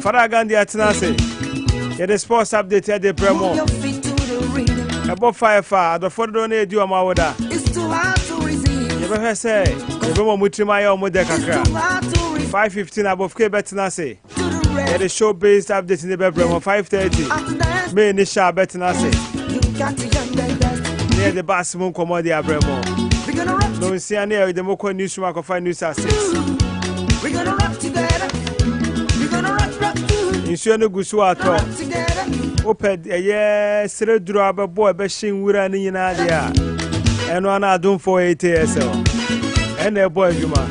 Father Gandhi atena ase yɛde sports update ɛde brɛ mu ɛbɔ fae fa adɔfoɔ dodoɔ no ɛdi wɔn awoda yɛbɛhwɛ sɛ yɛbɛma ɔmo tirim ayɛ ɔmo dɛ kakra 515 abɔfke bɛtena ase yɛde show based update ne bɛbrɛ mu 530 may ne hyɛ a bɛtena ase ne yɛde baase mu nkɔmmɔ de abrɛ mu nonsia ne yɛde mokɔ news Tuma kɔfa news ases. Nsuo no gu so atɔ. Wopɛ ɛyɛ sereduro a bɛbɔ ɛbɛhye nwura no nyinaa deɛ a ɛno ana adomfoɔ ATSL ɛna ɛbɔ adwuma.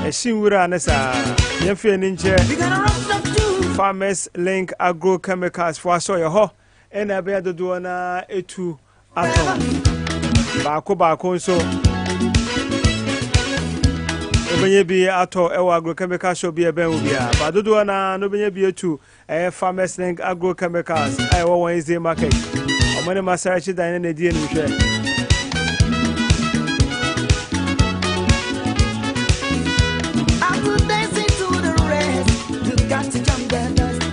Ɛhye nwura no saa yɛmfie no nkyɛ Farmers Link Agrochemicals foɔ asɔ yɛ hɔ. Ɛna ɛbɛyɛ dodoɔ no ara ɛtu atɔ baako baako nso wobɛnya bi atɔ ɛwɔ agrochemical shop bi ɛbɛn wo bia ba dodoɔ no ara no wobɛnya bi atu ɛyɛ farmers link agrochemicals a ɛwɔ wɔn ɛsɛ market ɔmo ne masarachi dan ne na ɛdi anim hwɛ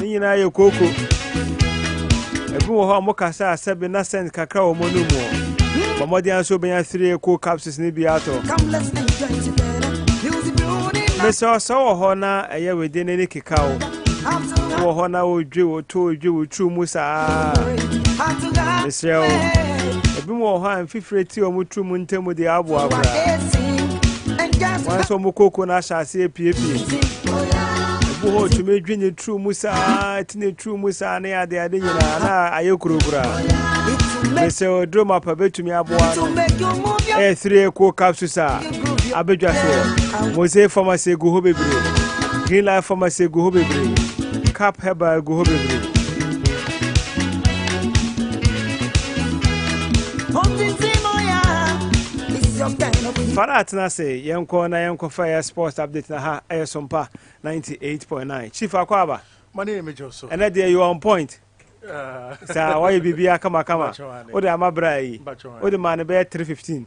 ne nyinaa yɛ kooko ebi wɔ hɔ a mokasa a sɛbe na sɛn kakra wɔ mo no mu bɔ mmɔden ara sɛ wobɛnya three cool capsules no bi atɔ mesɛ ɔsɛ wɔ hɔ na ɛyɛ wede no ani keka wo wɔ hɔ na wodwe wo to wodwe wo turu mu saa mesrɛ wo ebi wɔ hɔ a mfi Fire ti wɔn tiri mu ntam de aboa koraa. Wɔn nso wɔn koko no ahyɛ aseɛ piepie. Ebu hɔ otumi dwi ne tiri mu saa, ti ne tiri mu saa ne ade ade nyinaa na ayɛ kurokura. Mesɛ oduro ma pa betumi aboa no. Ɛyɛ three equal capsules a abedwa soɔ. Mose pharmacy gu hɔ bebree. Green life pharmacy gu hɔ bebree. Cap herbal gu hɔ bebree. fara atena ase yɛnkɔ na yɛnkɔfa yɛ sports update na ha ɛyɛ sompa 98.9 chief akɔ aba ɛnɛ deɛ you on point ah. saa wayɛ biribi akamakama wode ama bra yi wode maa no bɛyɛ 315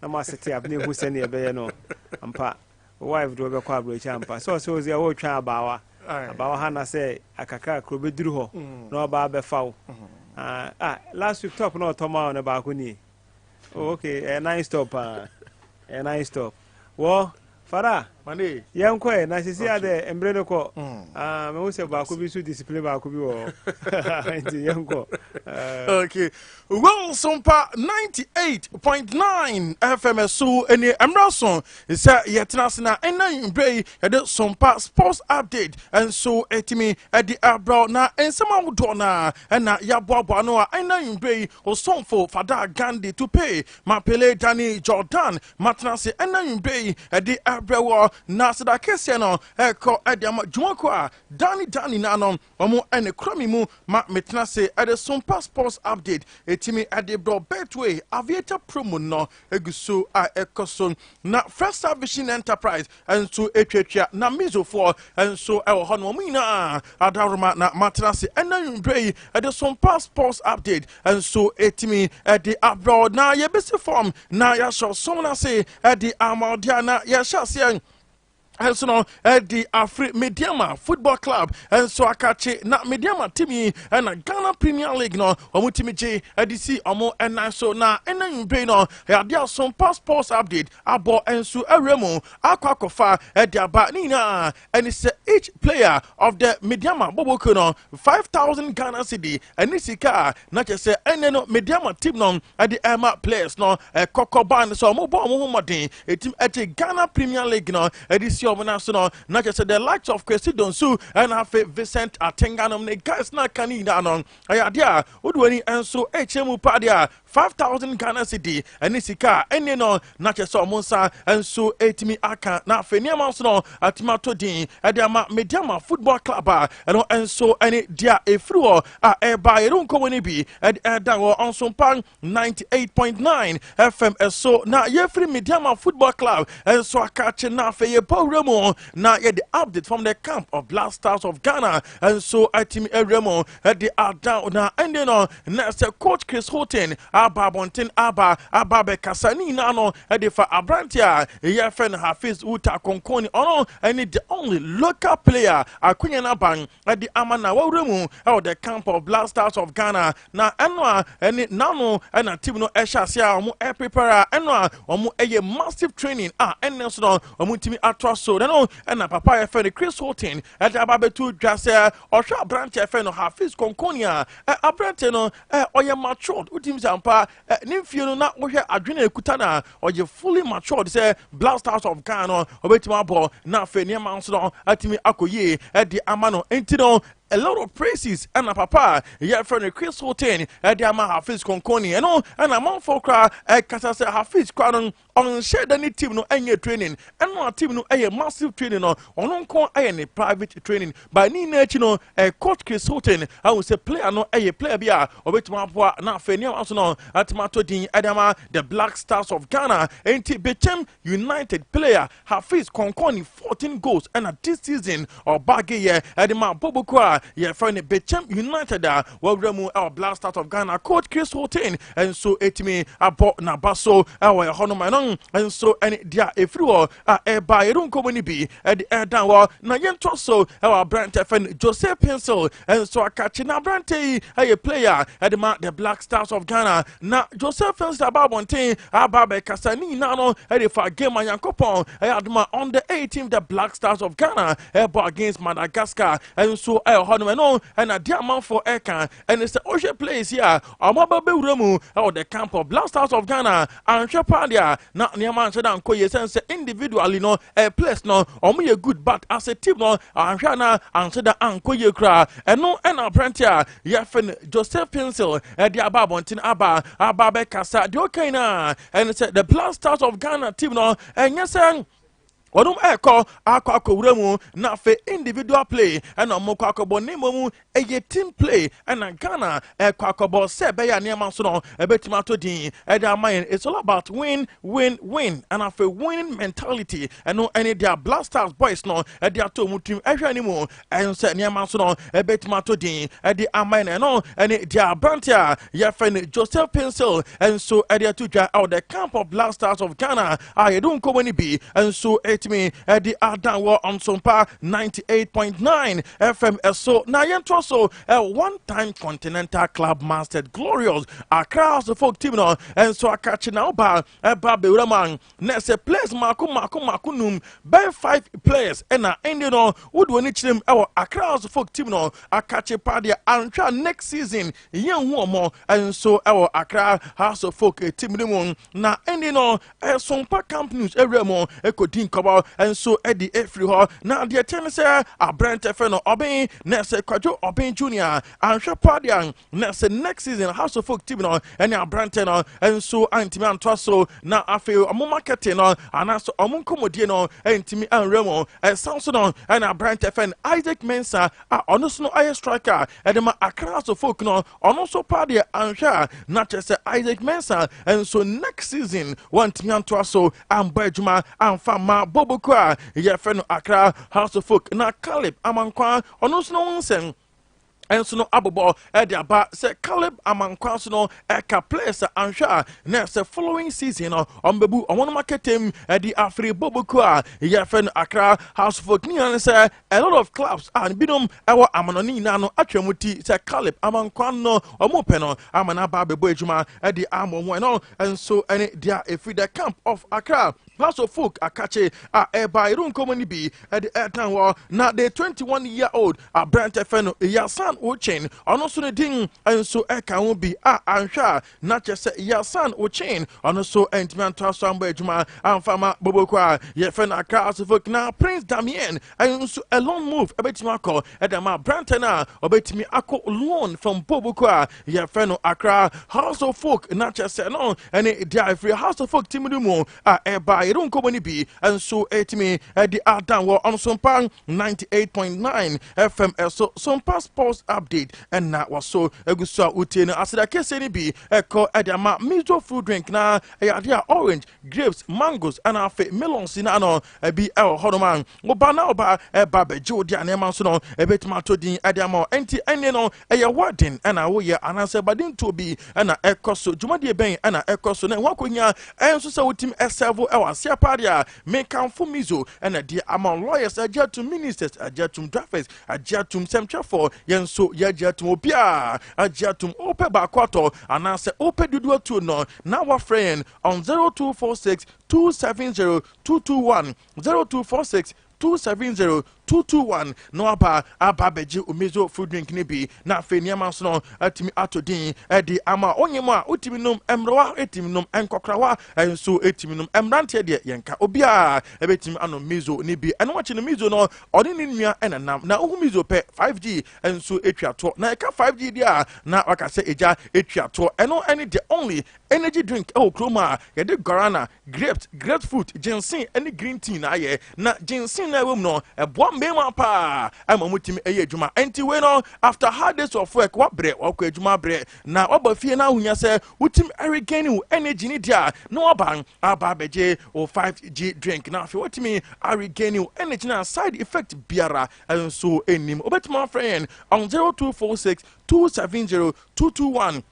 na mo ase te abena ehu sɛnea ɛbɛyɛ no ampa wo wife de wɔbɛkɔ aburokyi ampa sɛ ɔsɛ ɔsɛ ɔretwɛn abaawa abaawa ha na sɛ akakra kuro bɛduru hɔ mm. na ɔbaa bɛfa wo mm. ah, ah, last week top na ɔtɔ ma wo no baako nie oh, ok ɛyɛ eh, nine stop paa ɛyɛ eh, nine stop wɔ Fara yɛn kɔɛ na sisi adɛ mbere no kɔ. Ah, mehu sɛ baako bi so discipline baako bi wɔ hɔ. Nti yɛn kɔ. Okay. Wonsompa 98.9 FM so ɛni ɛmra so sɛ yɛtena ase na ɛnna mbrɛ yi yɛde sompa sports update nso ɛtumi ɛde abrɛw na nsɛm ahodoɔ na ɛna yɛaboaboa no a ɛnna mbrɛ yi osomfo Fada Gandhi Tupe Mapele Dani Jordan Matena ase ananwumpe yi de abrɛ wɔ na aseda kɛseɛ no ɛkɔ de ama dwumakuo a daa ne daa nyinaa no wɔn ɛne kura me mu ma metena ase ɛde som pa sports update ɛtumi ɛde brɔ Betway aviator promo no ɛgu so a ɛkɔ so na Festa Vision Enterprise nso tuatua. Na Mizofoɔ nso wɔ hɔ. Na wɔn nyinaa adaworoma na matena ase ɛna nwummerɛ yi ɛde som pa sports update nso ɛtumi ɛde abrɛw na yɛbɛsi fam na yɛahyɛ som no ase ɛde ama ɔdeɛ na yɛhyɛ aseɛ ɛnso no ɛde afiri mediama football club ɛnso akakye na mediama team yi ɛna ghana premier league no wɔn timi gye ɛde si wɔn ɛnan so na ɛna nwummerɛ yi no ɛde asom pa sports update abɔ nso awura mu akɔ akɔfa ɛde aba ne nyinaa ɛne sɛ each player of the Medeama bɔbɔkuo no 5000 Ghana cedi ɛne sika a na kyɛ sɛ ɛnɛ no Medeama team no ɛde ɛma players no ɛkɔkɔ baa ne sɛ ɔmo bɔ ɔmo ho mmɔden ɛtim ɛgye Ghana Premier League no ɛde si ɔmo nan so no na kyɛ sɛ the likes of Kwesi Donsu ɛna afei Vincent Atenga nom ne guys na aka ne nyinaa no ɛyɛ adeɛ a wode w'ani ɛnso ɛkyɛ mu paa deɛ a Five thousand Ghana cedi ɛne sika a ɛnni no na kyerɛ sɛ wɔn nsa nso ɛretumi aka na afei nneɛma nso no atumi ato din ɛde ama Medeama Football Club a ɛno nso ɛne deɛ a ɛfiri hɔ a ɛreba yɛrenkɔ wɔ no bi ɛde ɛda hɔ ɔnsompa 98.9 FM ɛso na yɛfiri Medeama Football Club nso aka akye na afei yɛbɔ wura mu na yɛde update from the camp of Black Stars of Ghana nso atumi awura mu ɛde ada na ɛnde no na ɛsɛ coach chris holton aba abɔnten aba aba bɛkasa ne nyinaa no ɛde fa aberante a ɛyɛ fɛ no hafiz uta kɔnkɔn ni ɔno ɛne the only local player akonya no aban ɛde ama na wawura mu ɛwɔ the camp of black stars of ghana na ɛno a ɛne n'ano ɛna team no ɛhyɛ ase a wɔn ɛprepare a ɛno a wɔn ɛyɛ massive training a ɛnne so no wɔn ntumi ato aso na no ɛna papa yɛfɛ no chris holton ɛde aba bɛto dwa sɛ Ɔhwɛ aberanteɛ fɛ no Hafiz Konkoni a ɛ aberanteɛ no ɛ ɔyɛ matured wotim sɛ ampa ɛ ne mfie no na wohwɛ adwene a ɛkuta no a ɔyɛ fully matured sɛ Black Stars of Ghana no ɔbɛtumi abɔ na afei nneɛma nso no atumi akɔ yie ɛde ama no nti no a lot of praises ɛna papa a yɛfrɛ no Chris Hilton ɛde ama Hafiz Konkoni ɛno ɛna amanfoɔ koraa ɛkasa sɛ Hafiz koraa no ɔnhyɛ da ne team no ɛnyɛ training ɛno a team no ɛyɛ massive training no ɔno nko ɛyɛ ne private training by ne nyinaa akyi no ɛyɛ coach Chris Houghton ahu sɛ player no ɛyɛ player bi a ɔbɛtumi aboa na afei ne awa so no atumi ato din ɛde ama the Black Stars of Ghana enti Bechem United player Hafiz kɔnkɔn ne fourteen goals ɛna this season ɔbaage yɛ ɛde ma abɔbɔkuo a yɛfrɛ no Bekyem United a wɔawura mu ɛwɔ Black Stars of Ghana. Coach Chris Hughton nso ɛtumi abɔ n'aba so ɛwɔ ɛhɔ nom. Ɛno nso ɛne deɛ a ɛfiri hɔ a ɛreba yɛde nkɔmmɔ no bi ɛde ɛredan hɔ na yɛntoa so ɛwɔ aberante fɛ no Jose Pencil nso akakye na aberante yi ɛyɛ player ɛde ma the Black Stars of Ghana na joseph fenster ba abɔnten aba abɛkasa ne nyinaa no ɛde fa game a nyankopɔn ɛyɛ adoma on the 18th the black stars of ghana ɛbɔ against madagascar nso ɛyɛ hɔ no ɛno ɛna de amanfoɔ ɛka ɛne sɛ wohwɛ players yi a ɔmaba bɛwura mu ɛwɔ the camp of black stars of ghana anhwɛ paa deɛ a na nneɛma anhyɛ da nkɔ yie sɛne sɛ individually no eh, players no ɔmo yɛ good but as a team no anhwɛ a na anhyɛ da ankɔ yie koraa ɛno ɛna aberante a yɛfrɛ no Joseph Pinsel ɛde aba abɔnten aba aba bɛkasa deɛ ɔka nyinaa ɛne sɛ the black stars of Ghana team no ɛnyɛ sɛ wɔnom ɛkɔ akɔ akɔwura mu na afei individual play ɛna wɔn kɔ akɔbɔ ne mmom ɛyɛ team play ɛna Ghana ɛkɔ akɔbɔ sɛ ɛbɛyɛ nneɛma so no ɛbɛtumi ato din ɛde ama yɛn it's all about win win win ɛna afei winning mentality ɛno ɛne deɛ black stars boys no ɛde ato wɔn tirim ɛhwɛ ne mu ɛho sɛ nneɛma nso no ɛbɛtumi ato din ɛde ama yɛn ɛno ɛne deɛ aberante a yɛfɛ no joseph pencil nso ɛde ato dwa ɛwɔ the camp of black stars of ghana a yɛde nkɔmmɔ no bi nso ɛtumi ɛde adan wɔ nsompa 98.9 fm ɛso na yɛntoa so ɛ one time continental club mastered glorious accra house folk team no ɛnso aka kye na ɔba ɛba bewura mu a na ɛsɛ players mako mako mako num bɛn five players ɛna ɛnde no wode wɔn ani kyerɛm ɛwɔ Accra House folk team no akakye paa deɛ antwa next season yɛn hu wɔn nso ɛwɔ Accra House folk team no mu na ɛnde no ɛsompa camp news ɛwura mu ɛkɔdi nkɔbɔ nso ɛde ɛfiri hɔ na deɛ kyɛn sɛ aberɛntɛfɛ no ɔben na ɛsɛ kwadwo ɔben junior anhwɛ paa deɛ na sɛ next season house of folk team no ɛne aberantɛ no nso antumi antoa so na afei ɔmo marketing no anaasɛ ɔmo nkɔmmɔdie no ntumi anwura mu ɛsan so no ɛne aberantɛ fɛn isaac mensa a ɔno so no ayɛ striker ɛde ma akra house of folk no ɔno nso paa deɛ anhwɛ a na kyerɛ sɛ isaac mensa nso next season wantumi antoa so ambɔ adwuma amfa ma boboko a yɛfɛ no akra house of folk na caleb amankwa ɔno nso no ho nsɛm nso no abobɔ de aba sɛ Caleb ama nkwa so no ɛka players a anhwɛ a na sɛ following season no ɔmbɛbu ɔmonom akɛtɛm de afiri bɔbɔkuo a yɛfrɛ no Accra House of Oak ne nyinaa ne sɛ a lot of clubs a binom ɛwɔ amanɔne nyinaa no atwa mu ti sɛ Caleb ama nkwa no ɔmo pɛ no ama no aba abɛbɔ adwuma de ama ɔmo ɛno nso ɛne deɛ ɛfiri the camp of Accra Pastor Fook akakye a ɛbaa Eronko mu no bi de ɛtan hɔ na the 21 year old aberante fɛ no Yasan Ochin, ɔno nso ne din nso ka ho bi a anhwɛ a na kyerɛ sɛ Yasan Ochin ɔno nso antumi antoa so ammɔ adwuma amfa ma Boboko a yɛfɛ no Accra House of Folk na Prince Damien nso a loan move bɛtumi akɔ de ama aberante no a ɔbɛtumi akɔ loan from Boboko a yɛfrɛ no Accra House of Folk na kyerɛ sɛ no ɛne deɛ a ɛfiri House of Folk timi no mu a ɛba yɛde nkɔmmɔ no bi nso ɛtumi ɛde adan wɔ ɔno sompa 98.9 FM ɛso sompa sports update ɛna wɔso ɛgu so a wotie no aseda kɛseɛ no bi ɛkɔ ɛde ama miso fruit drink na ɛyɛ adeɛ a orange grapes mangoes ɛna afei melons na ano Ebi wɔ hɔnom a, wo ba na ɔba ɛba bɛgye wo de a nneɛma nso no ɛbɛtumi ato din ɛde ama wo. Enti ɛnne no ɛyɛ wedding ɛna woyɛ anaasɛ badintuo bi ɛna ɛkɔ so, dwumadie bɛn ɛna ɛkɔ so na ɛho akɔhia ɛnso sɛ wotumi ɛsɛvo ɛwɔ aseɛ paa deɛ a, mekamfo Mizo ɛna ɛdeɛ ama wo. Lawyers agye atom, ministers agye atom, drivers agye atom, sɛmtwerɛfoɔ yɛn nso yɛagye atom, obiara agye atom. Wopɛ baako atɔ anaasɛ wopɛ dodoɔ atuo no na woafrɛ yɛn on 0246 270 two two one zero two four six two seven zero two two one na waba aba abɛgye omizo food drink no bi na afei nneɛma nso no atumi ato din ɛde ama onye mu a wotumi nom mmerewa etumi nom nkɔkorawa nso etumi nom mmeranteɛ deɛ yɛn ka obiara ɛbɛtumi ano mizo ne bi ɛno akyi no mizo no ɔne ne nua ɛna nam na ohun mizo pɛ five g nso etwa toɔ na ɛka five g deɛ a na waka sɛ egya etwa toɔ ɛno ɛne the only energy drink ɛwɔ kurom a yɛde guarana Grapes, grapefruit, ginseng ne green tea na ayɛ. Na ginseng na ɛwɔ mu no, ɛboa mmarima paa ma wɔtumi yɛ adwuma. Enti wei no, after hard days of work, woabrɛ, wakɔ adwuma abrɛ, na woaba fie na ahohia sɛ wotumi regain wo energy ne deɛ a, na woaba aba abɛgye wo 5G drink na afei watumi regain wo energy na side effect biara nso nnim. Wobɛtumi afrɛ yɛn on 0246 270 221.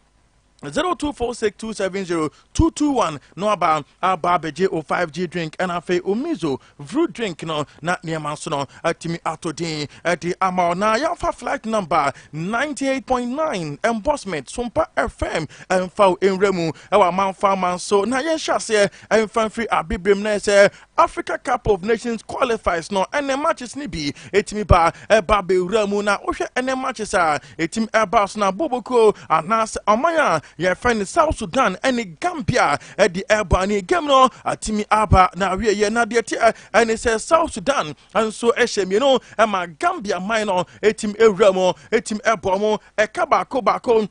zero two four six two seven zero two two one no aba aba abɛgye o five g drink ɛna afei o mizo vru drink no na nneɛma nso no atumi ato din ɛde ama o na yɛafa flight number ninety eight point nine embossment sompa fm ɛnfa o nwura mu ɛwɔ amanfa aman so na yɛnhyɛ aseɛ ɛnfa mfiri abibirem na ɛsɛ Africa Cup of Nations qualifiers no ɛnɛ matches no bi ɛtumi ba ɛba bɛwura mu na wohwɛ ɛnɛ matches a ɛtumi ɛba so na bobokuo anaasɛ ɔman a yɛfɛ no South Sudan ɛne Gambia ɛde ɛba ne game no atumi aba na awieɛ na deɛ teɛ ɛne sɛ South Sudan nso ɛhyɛ mmienu ɛma Gambia man no ɛtumi ɛwura mu ɛtumi ɛbɔ mu ɛka baako baako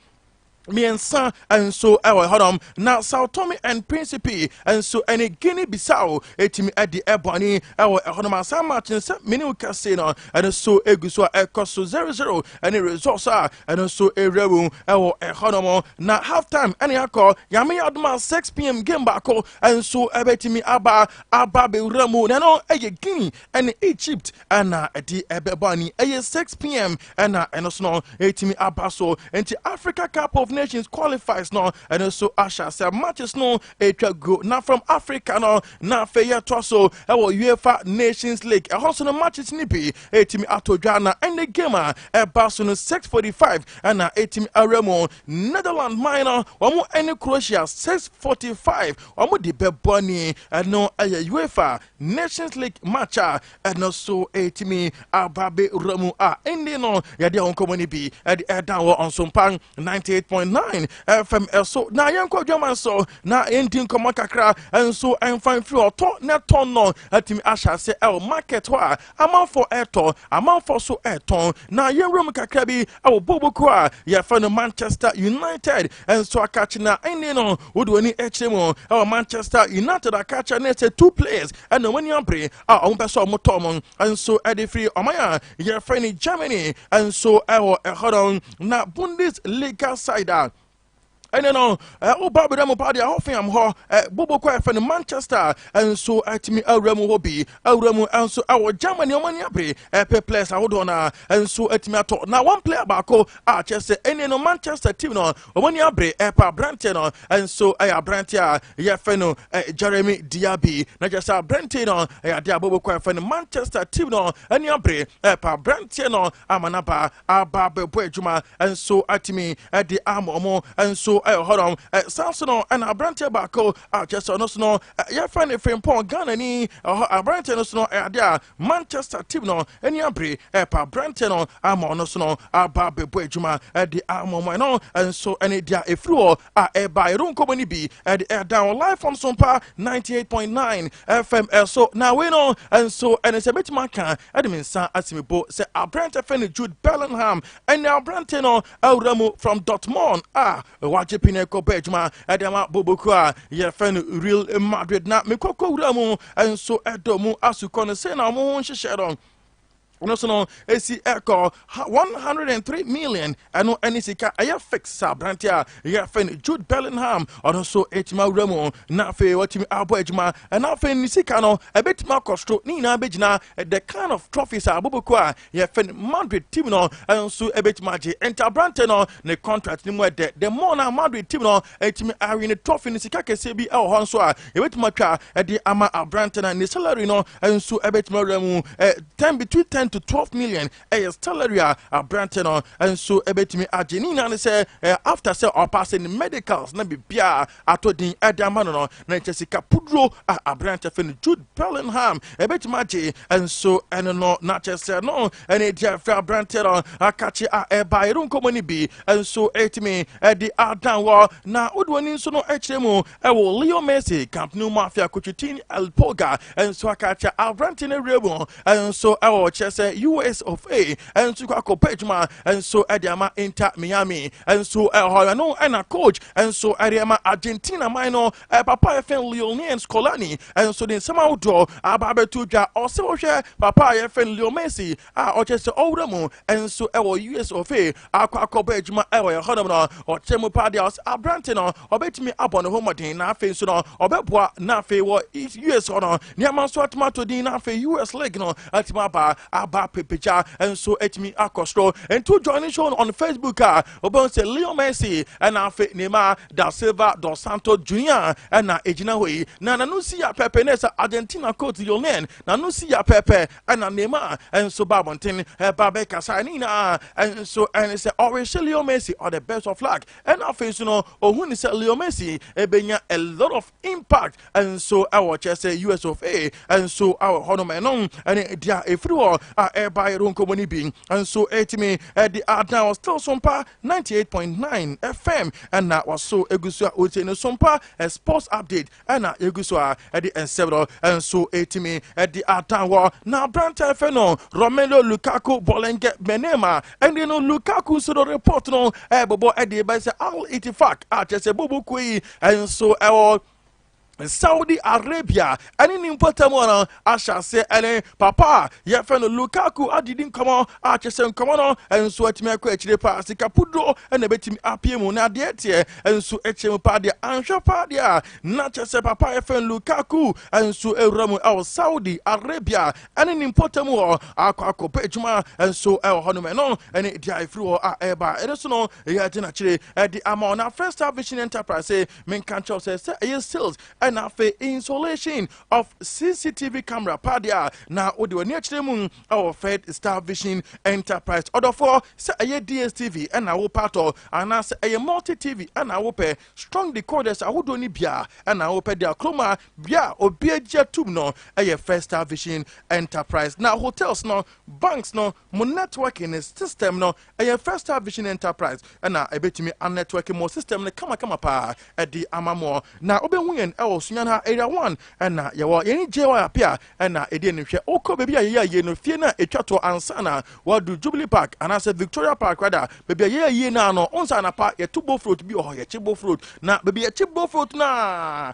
mmiɛnsa nso wɔ hɔnom na Sao Tome and Principe nso ne Guinea Bissau etumi adi ɛbɔne wɔ hɔnom asan match no sɛ mene wo kɛse no ɛno nso egu so a ɛkɔ so zero zero ɛne results a ɛno nso ewura mu wɔ hɔnom na half time ɛne akɔ yame adoma 6 pm game baako nso ɛbɛtumi aba aba bewura mu na ɛno ɛyɛ Guinea ɛne Egypt ɛna ɛde ɛbɛbɔ ani ɛyɛ 6pm ɛna ɛno so no ɛtumi aba so nti africa cup of nations qualifies no ɛno so ahyɛ sɛ matches no ɛtwa go na from africa no na afei yɛtoa so ɛwɔ uefa nations league ɛhɔ so no matches no bi ɛtumi atɔ dwa na ɛne game a ɛba so no 645 ɛna ɛtumi awura mu netherland man no wɔn ɛne croatia 645 wɔn de bɛbɔ ani ɛno ɛyɛ uefa Nations League match a ɛno so ɛtumi aba bɛwura mu a ɛnni no yɛde ɛho nkɔmmɔ no bi ɛde ɛda wɔ ɔnsompa 98.9 fm ɛso na yɛnkɔ adwaman so na yɛndi nkɔmmɔ kakra nso ɛmfa mfiri ɔtɔ na ɛtɔn no atumi ahyɛ ase ɛwɔ market hɔ a Amanfoɔ retɔ, amanfoɔ nso retɔn. Na yɛn nwura mu kakra bi wɔ bobe kuo a yɛfrɛ no Manchester United. Nso akakye na ɛnne no wode w'ani kyerɛ mu wɔ Manchester United akakye ne sɛ two players na wɔn ani abere a wɔn pɛ sɛ wɔn tɔ wɔn nso de firi ɔman a yɛfrɛ no Germany nso wɔ ɛhɔ no na Bundesliga side a ɛne no woba eh, berɛ mu paa deɛ hɔfeam hɔ eh, bobo kɔ ɛfɛ no manchester eh, nso atumi awura mu hɔ bi awura mu nso ɛwɔ germany ɔma ni abere ɛpɛ players ahodoɔ no a nso atumi atɔ na one player baako a kyerɛ sɛ ɛne no manchester team no ɔma ni abere ɛpɛ aberanteɛ no nso ɛyɛ aberanteɛ a yɛfɛ no jeremy diaby na kyerɛ sɛ aberanteɛ no ɛyɛ adeɛ a bobo kɔ ɛfɛ no manchester team no ani abere ɛpɛ aberanteɛ no ama n'aba aba abɛbɔ adwuma nso atumi de ama ɔmo nso ɛyɛ hɔnom ɛsan so no ɛna aberanteɛ baako a kyɛ sɛ ɔno so no yɛfɛ ne frimpɔn ghana ni ɛhɔ aberanteɛ no so no ɛyɛ adeɛ a manchester team no ani abere ɛpa aberanteɛ no ama ɔno so no aba abɛbɔ adwuma de ama ɔmo ɛno nso ɛne deɛ efiri hɔ a ɛba ɛro nkɔmmɔ no bi ɛde ɛda wɔn live from sompa 98.9 fm ɛso na wei no nso ɛne sɛ bɛtumi aka ɛde me nsa asimibo sɛ aberante fɛ no jude bellingham ɛne aberante no awura mu from dortmund a wagye pine kɔbɔ adwuma ɛde ama boboku a yɛfɛ no real madrid na mekɔkɔ wura mu nso ɛdɔ mu asukɔ no sɛ na wɔn ho nhyehyɛ no ɛno so no ɛsi ɛkɔ 103 million ɛno ɛne sika ɛyɛ fix sɛ aberante a yɛfɛ no jude bellingham ɔno nso ɛtumi awura mu na afei watumi abɔ adwuma ɛna afei ne sika no ɛbɛtumi akɔ soro ne nyinaa bɛgyina the kind of trophies a aboboko a yɛfɛ no madrid team no nso ɛbɛtumi agye ɛnti aberante no ne contract no mu ɛdɛ the more na madrid team no ɛtumi awe ne trophy no sika kɛseɛ bi ɛwɔ hɔ nso a Ebetumi atwa de ama aberante no, ne salary no nso ebetumi awura mu. Ten between ten to twelve million ɛyɛ salary a aberante no nso ebetumi agye. Ne nyinaa ne sɛ after sɛ ɔpaase ne medicals na biribiara atɔ din ɛde ama no no, na nkyɛ sika puduro a aberante fɛ no Jude Bellingham ebetumi agye nso ɛne no na kyɛ sɛ no ɛne edi afɛ aberante no akakye a ɛba ɛru nkɔmɔ ne bi nso etumi ɛde adan wɔ na wode wɔn nso no ɛkyerɛ mu Ɛwɔ Leo Messi, Camp Nou mu afeɛ Coutinho El Pulga nso aka akyerɛ aberante no awie mu nso wɔ kyerɛ sɛ US of A nso kɔ akɔpɛ adwuma nso de ama Inter Miami nso ɛhɔ yɛ no ɛna coach nso ɛde ama Argentina man no papa yɛfɛn Lionel Scaloni nso de nsɛm ahodoɔ aba abɛto dwa ɔsɛ wohwɛ papa yɛfɛn Leo Messi a ɔkyerɛ sɛ ɔwura mu nso wɔ us ɔfe akɔ akɔbɔ adwuma wɔ ɛhɔnom no ɔkyerɛ mu paa deɛ ɔsɛ aberante no ɔbɛtumi abɔ ne ho mmɔden na afei nso no ɔbɛboa na afei wɔ us hɔ no nneɛma nso atumi ato din na afei us league no atumi aba aba pepegya nso atumi akɔ soro nti join show no on facebook a ɔbɛhu sɛ leo messi ɛna afei nema da silva dos santos junior ɛna ɛgyina hɔ yi na nano si yɛ pɛpɛ ne sɛ argentina coach lionel nano si yɛ pɛpɛ ɛna Neymar nso ba abɔnten ɛba bɛkasa ne nyinaa nso ɛne sɛ ɔrehyɛ Leo Messi all the best of luck ɛna afei nso no ɔhu ne sɛ Leo Messi ɛbɛnya a lot of impact nso ɛwɔ kyɛ sɛ US of A nso awɔ hɔ nom ɛno ɛne deɛ ɛfiri hɔ a ɛba yɛde nkɔmmɔ no bi nso ɛtumi ɛde adan wɔ still so mpa 98.9 FM ɛna waso ɛgu so a ɔtie no so mpa sports update Ɛna yegu so a de nsɛmmerɛw nso retumi de atan hɔ. Na aberanteɛ fɛ no Romelu Lukaku Bolenge Menem a ɛne no Lukaku nso no report no ɛbobɔ de bɛyɛ sɛ Al Ittifaq a kyerɛ sɛ bobo kuo yi nso ɛwɔ Saudi Arabia ɛne ne mpɔtam no ahyɛaseɛ ne papa a yɛfrɛ no Lukaku adedi nkɔmmɔ a kyerɛ sɛ nkɔmmɔ no nso atumi akɔ akyire paa. Sika puduro na ɛbɛtumi apue mu na adeɛ teɛ nso kyerɛ mu paa deɛ anhwɛ paa deɛ a na kyerɛ sɛ papa a yɛfrɛ no Lukaku nso awura mu ɛwɔ Saudi Arabia ɛne ne mpɔtam hɔ akɔ akɔpɛ adwuma nso ɛwɔ hɔ nom ɛno ɛne deɛ a ɛfiri hɔ a ɛba ɛno nso no ɛyɛ agye n'akyire ɛde ama ɔna First Star Vision Enterprise menka nkyɛw sɛ sɛ ɛyɛ sales ɛna afei insulation of CCTV camera pa deɛ a na wode w'ani akyerɛ mu wɔ Fed Star Vision Enterprise ɔdɔfoɔ sɛ ɛyɛ DSTV ɛna wo patɔ anaasɛ ɛyɛ multi TV ɛna wopɛ strong decoders ahodoɔ no bia ɛna wopɛ de akroma bia obi agye atum no ɛyɛ Fed Star Vision Enterprise na hotels no banks no Mo networking no system no ɛyɛ First Star Vision Enterprise na ɛbɛtumi a networking mo system no kamakama paa de ama mo. Na wobɛhu yɛn wɔ Sunyani ha Area One na yɛwɔ yɛn JY Apia na ɛdi anim. Hwɛ wokɔ baabi a yɛyɛ ayie no, fie no a ɛtwa toɔ ansa na woadu Jubilee Park anaasɛ Victoria Park rather, baabi a yɛyɛ ayie no ano, wohu sɛ anapa yɛto Bofrot bi wɔ hɔ, yɛkye Bofrot na baabi a yɛkye Bofrot no a,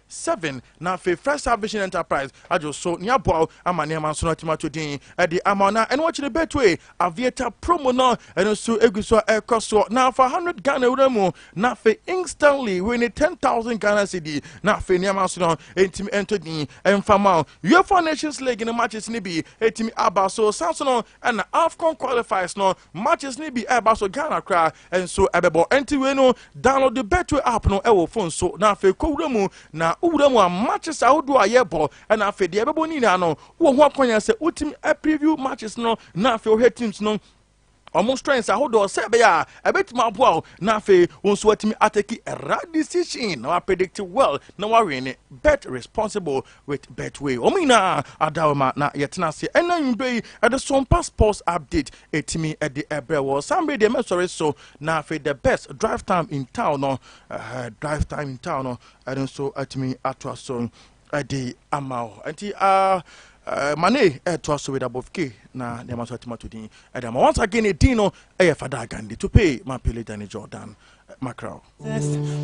Seven, na afei First Star Vision Enterprise adwo so ne aboa wo ama nneɛma nso no atumi ato din de ama wo na ɛno akyi no Betway Aviator promo no ɛno nso egu so a ɛkɔ soɔ na afa 100 Ghana wura mu na afei instantly wei ne 10,000 Ghana cedi na afei nneɛma nso no ɛntumi ɛnto din ɛmfa ma wo UEFA Nations League no matches no bi ɛtumi aba so san so no ɛna AFCON qualifiers no Matches no bi ɛreba so Ghana koraa nso ɛbɛbɔ ɛnti wei no download Betway app no ɛwɔ phone so na afei kɔ wura mu na wo wura mu a matches ahodoɔ a yɛbɔ ɛna afei deɛ ɛbɛbɔ ne nyinaa no wɔ ho akwanya sɛ wotumi ɛ preview matches no na afei wohwɛ teams no wɔn strengths ahodoɔ sɛ ɛbɛyɛ a ɛbɛtumi aboa wo na afei wo nso watumi ateki right decision na wapredict well na wawene bet responsible with Betway. Wɔn nyinaa adaw ma na yɛtena ase ɛna anwummerɛ yi ɛde so mpa sports update ɛtumi ɛde ɛbrɛ wɔ saa mmerɛ deɛ mɛsɔre so na afei the best drive time in town no uh, drive time in town no ɛno nso atumi atoa so ɛde ama wo nti uh, uh, mane ɛtoa so with above k na nneɛma nso atumi ato din ɛde ama once again ɛdin no ɛyɛ fada agande to pay ma pele dane jordan macrow